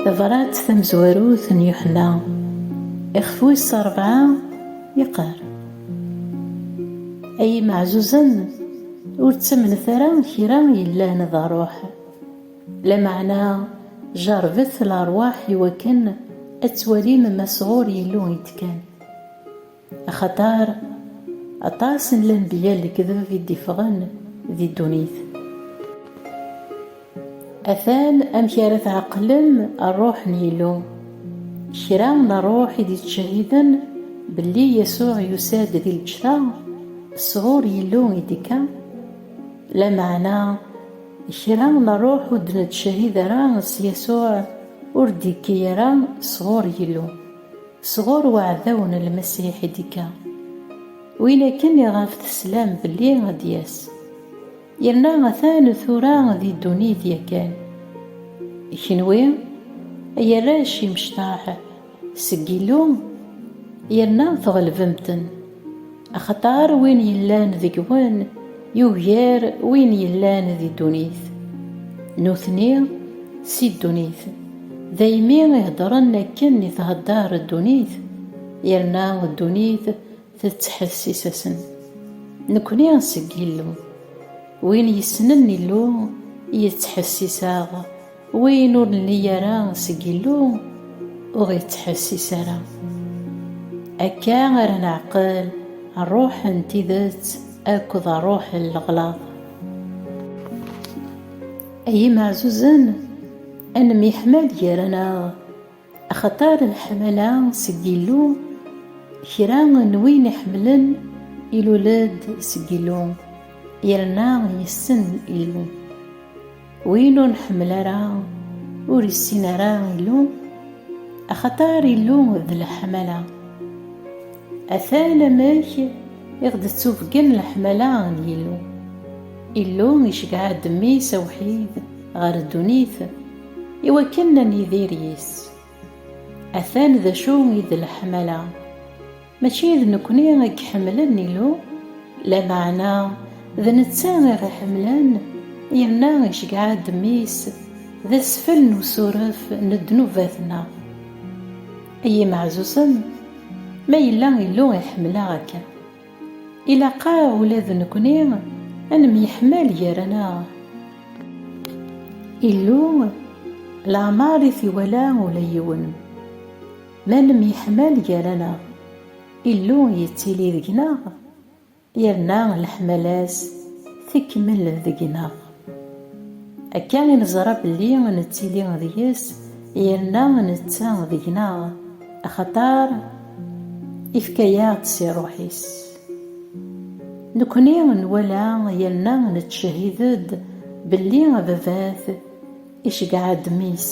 Tabrat tamezwarut n Yuḥenna, ixef wis rebɛa, yeqqar. Ay imeɛzuzen, ur ttamnet ara kra yellan d ṛṛuḥ. Lameɛna jeṛṛbet leṛwaḥ iwakken ad twalim ma sɣur Yillu i d-kkan. Axaṭer aṭas n lenbiya n lekdeb i d-iffɣen di ddunit. Atan amek ara tɛeqlem Rruḥ n Yillu. Kra n rruḥ i d-yettcehhiden belli Yasuɛ yusa-d di lǧetta, sɣur Yillu i d-ikka, lameɛna kra n rruḥ ur d-nettcehhid ara s Yasuɛ ur d-yekki ara sɣur Yillu. Sɣur uɛdaw n Lmasiḥ i d-ikka, win akken iɣef teslam belli ad d-yas. Yerna atan tura di ddunit yakan. I kenwi, ay arrac imecṭaḥ seg Yillu, yerna tɣelbem-ten. Axaṭer win yellan deg-wen yugar win yellan di ddunit. Nutni si ddunit, daymi i heddren akken i thedder ddunit, yerna ddunit tettḥessis-asen. Nekni seg Yillu. Win yessnen Illu, yettḥessis-aɣ. Win ur nelli ara seg Illu, ur ɣ-ittḥessis ara. Akka ara neɛqel ṛṛuḥ n tidet akked ṛṛuḥ n leɣlaḍ. Ay imeɛzuzen, ad nemyeḥmal gar-aneɣ. Axaṭer leḥmala seg Yillu, kra n win iḥemmlen ilul-d seg Yillu, yerna yessen Illu. Win ur nḥemmel ara, ur issin ara Illu, axaṭer Illu d leḥmala. Atan amek i ɣ-d-ttubgen leḥmala n Yillu. Illu iceggeɛ-d Mmi-s awḥid ɣer ddunit, I wakken ad nidir yis. Atan d acu i d leḥmala, mačči d nekkni i iḥemmlen Illu, lameɛna d netta i ɣ-iḥemmlen yerna iceggeɛ-aɣ-d mmi-s d asfel n usuref n ddnubat-nneɣ. Ay imeɛzuzen, ma yella Illu iḥemmel-aɣ akken! Ilaq-aɣ ula d nekni ad nemyeḥmal gar-aneɣ. Illu leɛmeṛ i t-iwala ula yiwen. Ma nemyeḥmal gar-aneɣ, Illu yettili deg-neɣ, yerna leḥmala-s tekmel deg-neɣ. Akka i neẓra belli nettili deg-s yerna netta deg-neɣ, axaṭer ifka-yaɣ-d si Rruḥ-is. Nekkni nwala yerna nettcehhid-d belli Ababat iceggeɛ-d Mmi-s,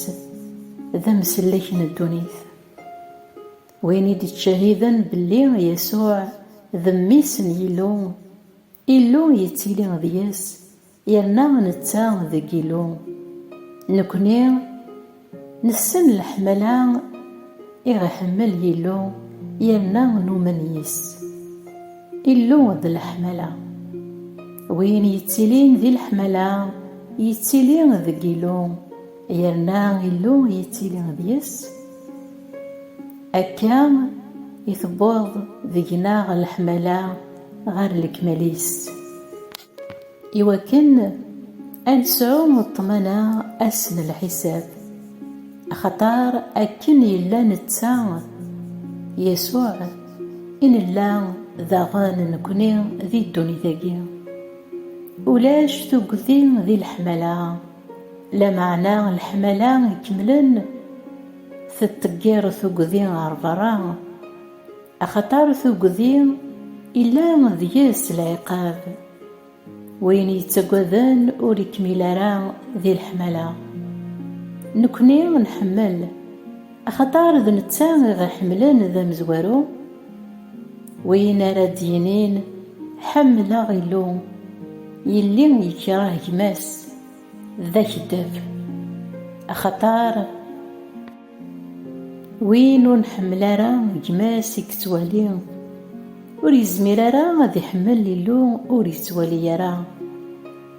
d amsellek n ddunit. Win i d-ittcehhiden belli Yasuɛ d Mmi-s n Yillu, Illu yettili deg-s, yerna netta deg Illu. Nekkni nessen leḥmala i ɣ-iḥemmel Illu yerna numen yis-s. Illu d leḥmala. Win yettilin di leḥmala, yettili deg Illu. Yerna Illu yettili deg-s, akka i tewweḍ deg-neɣ leḥmala ɣer lekmal-is. I wakken ad nesɛu ṭṭmana ass n lḥisab, axaṭer akken yella netta, Yasuɛ, i nella daɣen nekni di ddunit-agi. Ulac tuggdi di leḥmala. Lameɛna leḥmala ikemlen tettḍeggir tuggdi ɣer berra, axaṭer tuggdi illa deg-s lɛiqab. Win yettaggaden ur ikmil ara di leḥmala. Nekkni nḥemmel. Axaṭer d netta i ɣ-iḥemmlen d amezwaru, win ara d-yinin, Ḥemmleɣ Illu, yelli yekreh gma-s, d akeddab. Axaṭer win ur nḥemmel ara gma-s i yettwali, ur yezmir ara ad iḥemmel Illu ur yettwali ara.